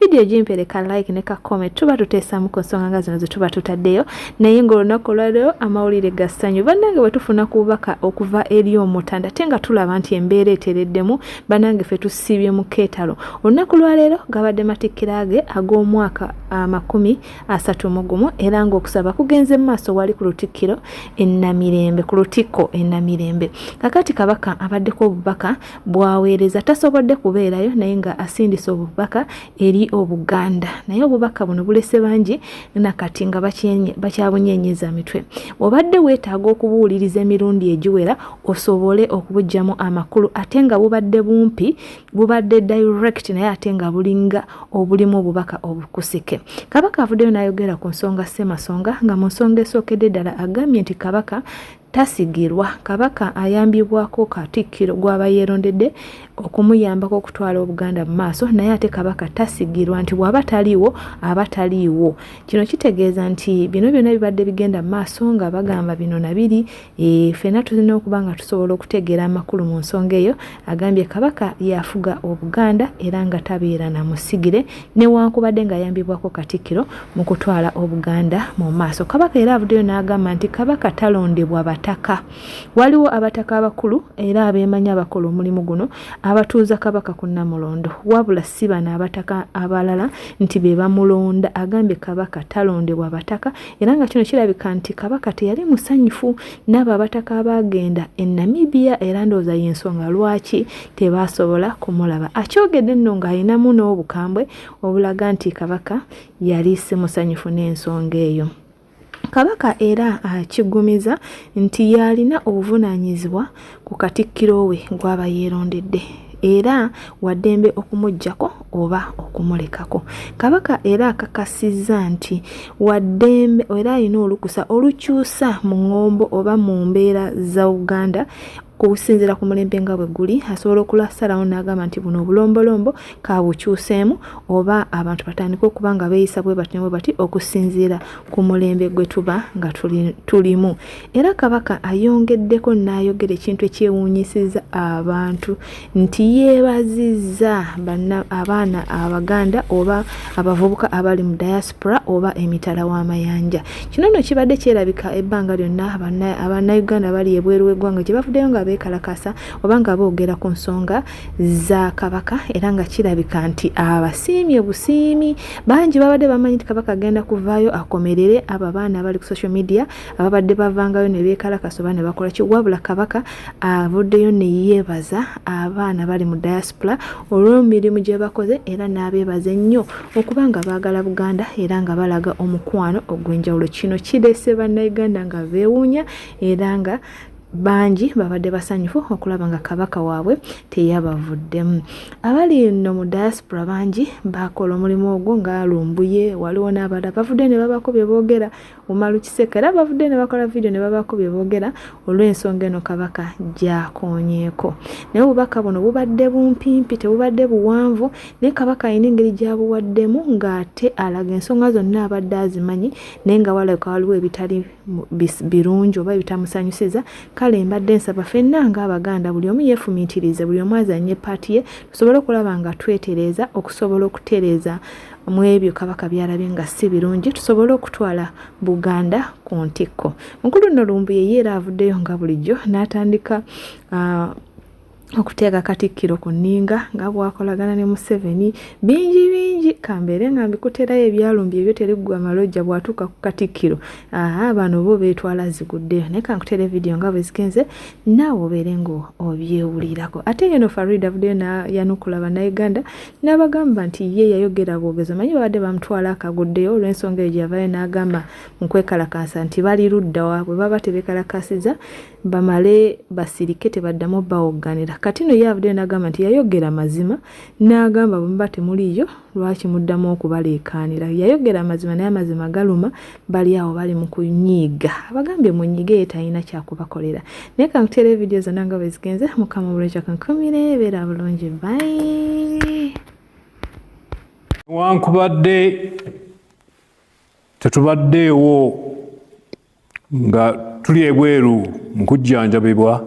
vidiyo gimpere ka like ne ka comment tuba tuteesamu ku nsonga nga zino zetuba tutaddeyo naye ngaolunaku olwaleero amawulire ga ssanyu bannange bwe tufuna ku bubaka okuva eri omutanda ate nga tulaba nti embeera etereddemu bannange fe tusiibye mu keetalo olunaku lwaleero gabadde matikkira ge ag'omwaka amakumi asatu mu gumu era ng'okusaba kugenze mu maaso wali ku lutikkiro enamirembe ku lutikko enamirembe kakati kabaka abaddeko obubaka bwaweereza tasobodde kubeerayo naye nga asindise obubaka eri obuganda naye obubaka buno bulese bangi nakati nga bakyabunyenyeza mitwe obadde weetaaga okubuwuliriza emirundi egiwera osobole okubugyamu amakulu ate nga bubadde bumpi bubadde direct naye ate nga bulinga obulimu obubaka obukusike kabaka avuddeyo n'ayogera ku nsonga ssemasonga nga mu nsonga esookedde ddala agambye nti kabaka Tasigirwa, Kabaka ayambibwako Katikkiro gw'aba yeerondedde okumuyambako okutwala Obuganda mu maaso naye ate Kabaka tasigirwa nti bw'aba taliiwo aba taliiwo. Kino kitegeeza nti bino byonna bibadde bigenda mu maaso nga bagamba bino na biri, eh, ffenna tulina okuba nga tusobola okutegeera amakulu mu nsonga eyo Agambye Kabaka y'afuga Obuganda era nga tabeera na musigire newankubadde ng'ayambibwako Katikkiro mu kutwala Obuganda mu maaso. Kabaka era avuddeyo n'agamba nti Kabaka talondebwa bataka. Waliwo abataka abakulu era abeemanyi abakola omulimu guno abatuuza Kabaka ku Nnamulondo wabula si bano abataka abalala nti be bamulonda. Agambye Kabaka talondebwa bataka era nga kino kirabika nti Kabaka teyali musanyufu n'abo abataka abaagenda e namibia era ndowooza y'ensonga lwaki tebaasobola kumulaba akyogedde nno ng'alinamu n'obukambwe obulaga nti kabaka yali si musanyufu n'ensonga eyo kabaka era akiggumiza nti yalina obuvunaanyizibwa ku katikkiro we gw'aba yeerondedde era waddembe okumugyako oba okumulekako kabaka era akakasizza nti waddembe era alina olukusa olukyusa mu ŋŋombo oba mu mbeera za uganda kusinzira ku mulembe nga bwe guli asobola okulasalawo n'agamba nti buno obulombolombo kabukyuseemu oba abantu batandike okuba nga beeyisa bwe batyo bwe bati okusinziira ku mulembe gwe tuba nga tulimu Era kabaka ayongeddeko n'ayogera ekintu ekyewuunyisizza abantu nti yeebazizza abaana Abaganda oba abavubuka abali mu diaspora oba emitala w'amayanja. Kino nno kibadde kyerabika ebbanga lyonna Abannayuganda bali ebweru w'eggwanga gye bavuddeyo nga beekalakaasa oba nga boogera ku nsonga za Kabaka era nga kirabika nti abasiimye busiimi. Bangi babadde bamanyi nti Kabaka agenda kuvaayo akomerere abo abaana abali ku social media ababadde bavangayo ne beekalakasa oba ne bakola ki wabula kabaka avuddeyo ne yeebaza abaana bali mu diaspora olw'emirimu gye bakoze era n'abeebaza ennyo okuba nga baagala buganda era nga balaga omukwano ogw'enjawulo kino kireese bannayuganda nga beewuunya era nga bangi babadde basanyufu okulaba nga kabaka waabwe teyabavuddemu abali eno mu diaspora bangi bakola omulimu ogwo nga lumbuye waliwo n'abala bavudde ne babako bye boogera Umaru Kiseka era bavudde ne bakola vidiyo ne babaako bye boogera olw'ensonga eno Kabaka gy'akoonyeeko. Naye obubaka buno bubadde bumpimpi, tebubadde buwanvu, naye Kabaka alina engeri gy'abuwaddemu ng'ate alaga ensonga zonna abadde azimanyi naye nga walabika waliwo ebitali birungi oba ebitamusanyusiza. Kale mbadde nsaba fenna ng'Abaganda buli omu yeefumiitirize, buli omu azannye ppaati ye tusobole okulaba nga twetereeza okusobola okutereeza mu ebyo kabaka byalabye nga si birungi tusobole okutwala buganda ku ntikko mukulu nno lumbuye ye era avuddeyo nga bulijjo n'atandika uh, okuteeka katikkiro ku nninga nga bwakolagana ne museveni bingi bingi kambeere nga mbikuterayo ebyalumbye ebyo teriggwa amalojja bwatuuka ku katikkiro aa bano bo beetwala ziguddeyo naye kankutere vidiyo nga bwe zigenze naawe obeere nga obyewulirako ate yeno farid avuddeyo nayanukula bannayuganda n'abagamba nti ye yayogera bwogezi omanyi babadde bamutwala akaguddeyo olw'ensonga eyo gyeyavayo n'agamba mu kwekalakaasa nti bali ludda waabwe baba tebekalakasiza bamale basirike tebaddamu bawogganira kati no ye avuddeyo n'agamba nti yayogera mazima n'agamba bwemuba temuliiyo lwaki muddamu okubaleekaanira yayogera amazima naye amazima galuma bali awo bali mu kunyiiga abagambye munyige ye talina kyakubakolera naye kankuteera evidiyo zonna nga bwe zigenze mukama bulekyo kankumire beera bulungi bayi newankubadde tetubaddeewo nga tuli ebweru mu kujjanjabibwa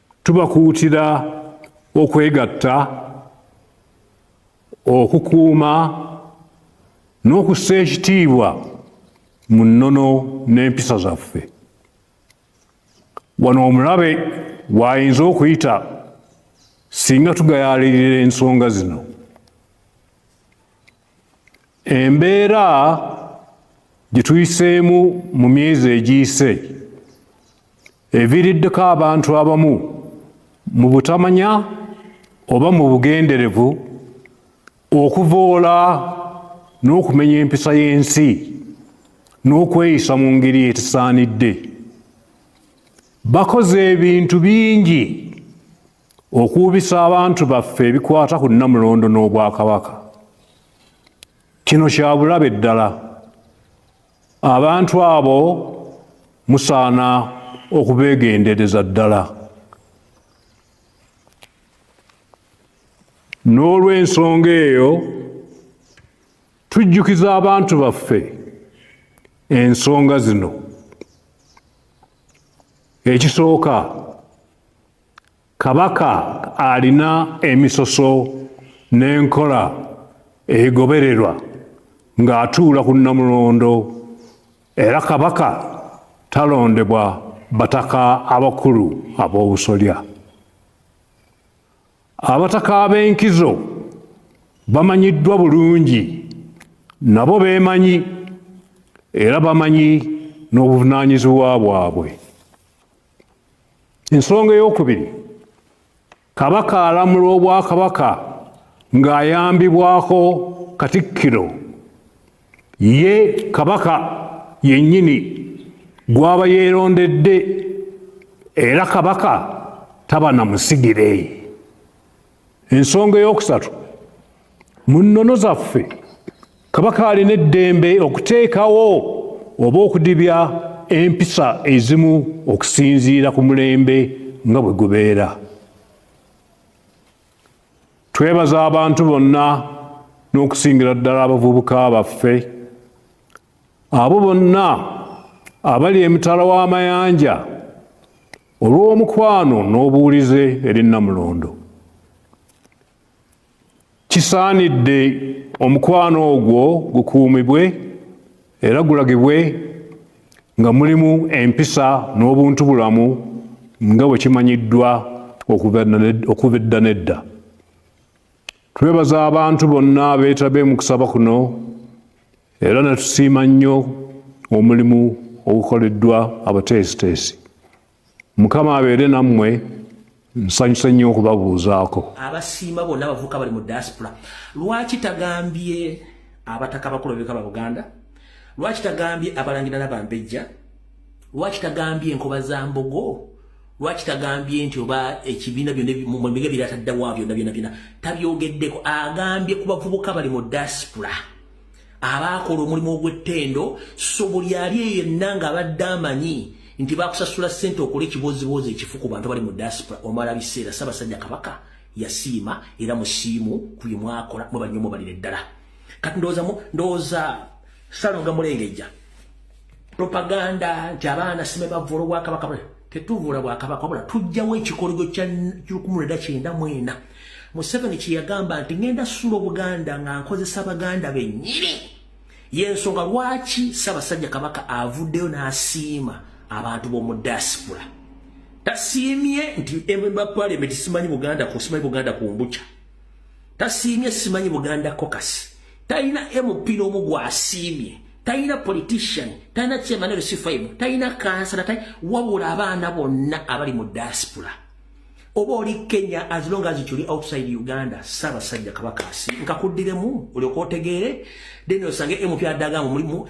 Tubakuutira okwegatta okukuuma n'okussa ekitiibwa mu nnono n'empisa zaffe. Wano omulabe waayinza okuyita singa tugayaalirira ensonga zino. Embeera gye tuyiseemu mu myezi egiyise eviiriddeko abantu abamu mu butamanya oba mu bugenderevu okuvoola n'okumenya empisa y'ensi n'okweyisa mu ngeri etisaanidde bakoze ebintu bingi okuwubisa abantu baffe ebikwata ku nnamulondo n'obwakabaka kino kya bulabe ddala abantu abo musaana okubeegendereza ddala n'olw'ensonga eyo tujjukiza abantu baffe ensonga zino ekisooka Kabaka alina emisoso n'enkola egobererwa ng'atuula ku Nnamulondo era Kabaka talondebwa bataka abakulu ab'obusolya. Abataka ab'enkizo bamanyiddwa bulungi nabo beemanyi era bamanyi n'obuvunaanyizibwa bwabwe. ensonga eyokubiri kabaka alamula obwakabaka ng'ayambibwako katikkiro ye kabaka yennyini gwaba yeerondedde era kabaka taba na musigire ensonga eyokusatu mu nnono zaffe kabaka alina eddembe okuteekawo oba okudibya empisa ezimu okusinziira ku mulembe nga bwe gubeera twebaza abantu bonna n'okusingira ddala abavubuka baffe abo bonna abali emitala w'amayanja olw'omukwano n'obuwulize eri namulondo kisaanidde omukwano ogwo gukuumibwe era gulagibwe nga mulimu empisa n'obuntu bulamu nga bwe kimanyiddwa okuva edda n'edda twebaza abantu bonna abeetabe mu kusaba kuno era natusiima nnyo omulimu ogukoleddwa abateesiteesi mukama abeere nammwe nsanyuse nnyo okubabuuzaako abasiima bonna abavuka bali mu diaspora lwaki tagambye abataka abakulu bebika ba buganda lwaki tagambye abalangira nabambejja lwaki tagambye enkoba za mbogo lwaki tagambye nti oba ekibiina byonamiga birataddawa byona byona byona tabyogeddeko agambye ku bavubuka bali mu diaspora abaakola omulimu ogw'ettendo so buli ali eyo yenna ng'abadde amanyi nti bakusasula ssente okola ekibooziboozi ekifu ku bantu bali mu diaspora omala biseera ssabasajja kabaka yasiima era musiimu ku bye mwakola mwe bannyo mubalire ddala kati ndowooza ndowooza salonga mulengejja propaganda nti abaana sime bavvula obwakabaka bwe tetuvula bwakabaka wabula tujjawo ekikoligo kya lukumu lwenda kyenda mwena museveni kyeyagamba nti ngenda sula obuganda nga nkozesa abaganda benyini yensonga lwaki sabasajja kabaka avuddeyo n'asiima abantu b'omu diaspora tasiimye nti emba palimenti simanyi buganda ku simanyi buganda ku mbuca tasiimye simanyi buganda kokasi talina mp n'omu gwasiimye talina politician talina chairman rc five talina kansala tali wabula abaana bonna abali mu diaspora oba oli kenya as long as kyoli outside uganda saabasajja kabaka asi nkakuddiremu olyoka otegeere then osange mp adagamu mulimu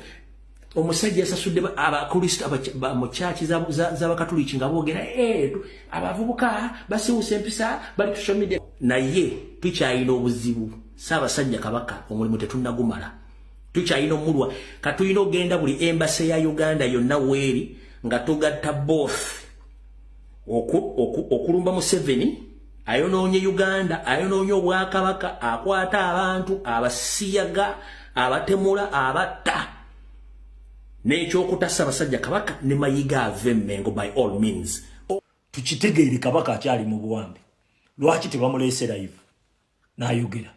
omusajja yasasudde abakristo mu kyaki z'abakatuliki nga boogera eh, abavubuka basiwusa empisa bali tusomide naye tukyalina obuzibu saabasajja kabaka omulimu tetunnagumala tukyalina omulwa katulina ogenda buli embase ya uganda yonna weeri nga tugatta both okulumba museveni ayonoonye uganda ayonoonye obwakabaka akwata abantu abasiyaga abatemula abatta n'ekyokutasa abasajja kabaka ne mayiga ave mengo by all means tukitegeere kabaka akyali mu buwambe lwaki tebamuleese live nayogera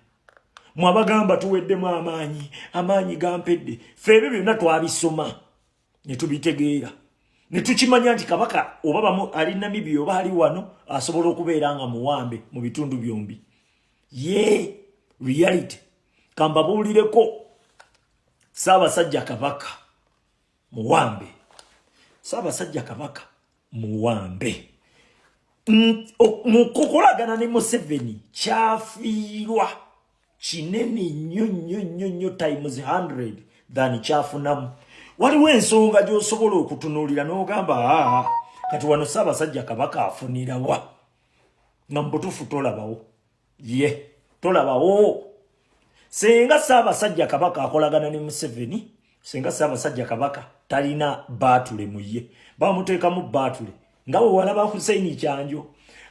mwabagamba tuweddemu amaanyi amaanyi gampedde fe ebyo byonna twabisoma ne tubitegeera ne tukimanya nti kabaka oba bamu ali namibia oba ali wano asobola okubeera nga muwambe mu bitundu byombi ye reality kambabuulireko saabasajja kabaka muwambe saabasajja kabaka muwambe mukukolagana ne museveni kyafiirwa kinene nnyo nnyo nnyo nnyo times 100 than kyafunamu waliwo ensonga gy'osobola okutunuulira n'ogamba aa kati wano ssaabasajja kabaka afunirawa nga mubutuufu tolabawo ye tolabawo senga ssaabasajja kabaka akolagana ne museveni senga ssaabasajja kabaka talina baatule mu ye bamuteekamu baatule nga we walaba huseini kyanjo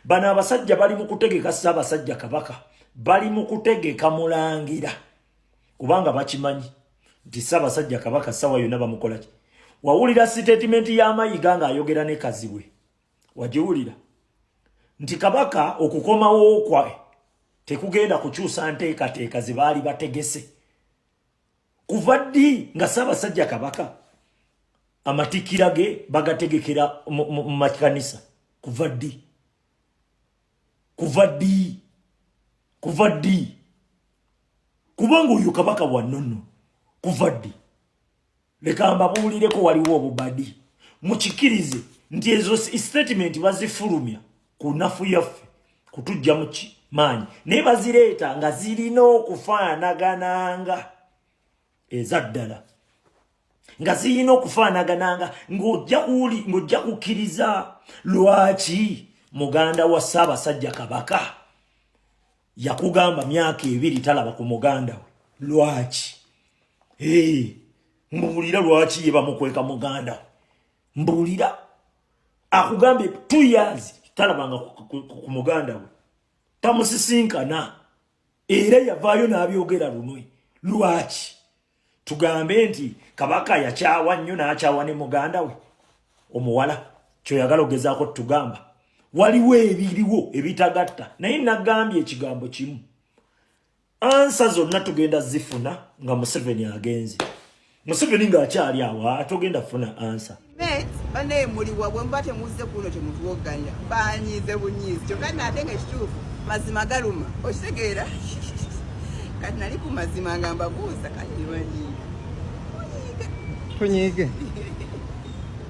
bano abasajja bali mu kutegeka ssaabasajja kabaka bali mu kutegeka mulangira kubanga bakimanyi nti ssaabasajja kabaka ssaawa yonna bamukolaki wawulira sitatimenti ya mayiga ng'ayogera ne kazibwe wagiwulira nti kabaka okukomawo kwa tekugenda kukyusa nteekateeka ze baali bategese kuva ddi nga ssaabasajja kabaka amatikira ge bagategekera mu makanisa kuva ddi kuva ddi kuva ddi kubanga oyo kabaka wannono kuva ddi leka mbabuulireko waliwo obubadi mukikirize nti ezo statement bazifulumya ku nafu yaffe kutujja muki maanyi naye bazireeta nga zirina okufaanagananga eza ddala nga zirina okufaanagananga ng'ojja kukkiriza lwaki muganda wa ssaabasajja kabaka yakugamba myaka ebiri talaba ku muganda we lwaki hey, mbuulira lwaki ye bamukweka muganda we mbuulira akugambye two years talabanga ku muganda we tamusisinkana era yavaayo n'abyogera lunwe lwaki tugambe nti kabaka yakyawa nnyo n'akyawa ne muganda we omuwala kyoyagala ogezaako tugamba waliwo ebiriwo ebitagatta naye nagambye ekigambo kimu ansa zonna tugenda zifuna nga museveni agenze museveni ng'akyali awo atogenda funa ansa banaye muliwa bwemuba temuzze kuno temutuwogganya banyiize bunyiizi kyokka naate nga ekituufu mazima galuma okitegeera kati nali ku mazima nga mbabuuza kati banyiiga tunyiige